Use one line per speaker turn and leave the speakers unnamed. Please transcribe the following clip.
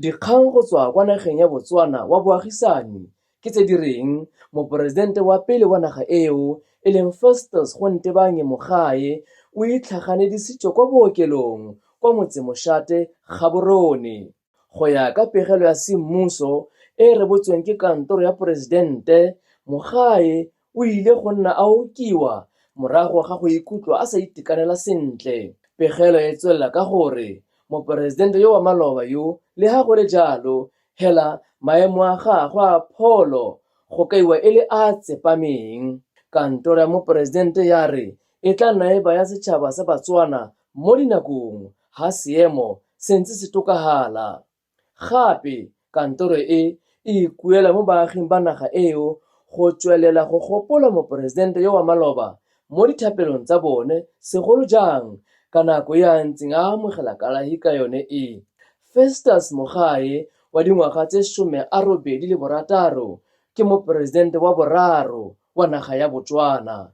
Dikgang go tswa kwa nageng ya Botswana wa boagisani ke tse di reng moporesidente wa pele wa naga eo e leng Festus Gontebanye Mogae o itlhaganedisitswe kwa bookelong kwa motsemoshate Gaborone. Go ya ka pegelo ya semmuso e e rebotsweng ke kantoro ya poresidente, Mogae O ile go nna a okiwa morago ga go ikutlwa a sa itekanela sentle. Pegelo e tswelela ka gore moporesidente yo wa maloba yo, leha go le jalo, hela maemo a gagwe a pholo go kaiwa e le a a tsepameng. Kantoro ya moporesidente ya re e tla nna e baya setšhaba sa Batswana mo dinakong ha seemo se ntse se tokafala. Gape, kantoro e e ikuela mo baaging ba naga eo go tswelela go gopola Moporesidente yo wa maloba mo dithapelong tsa bone segolo jang ka nako e a ntseng a amogela kalahi ka yone e. Festus Mogae wa dingwaga tse some a robedi le borataro ke Moporesidente wa boraro wa naga ya Botswana.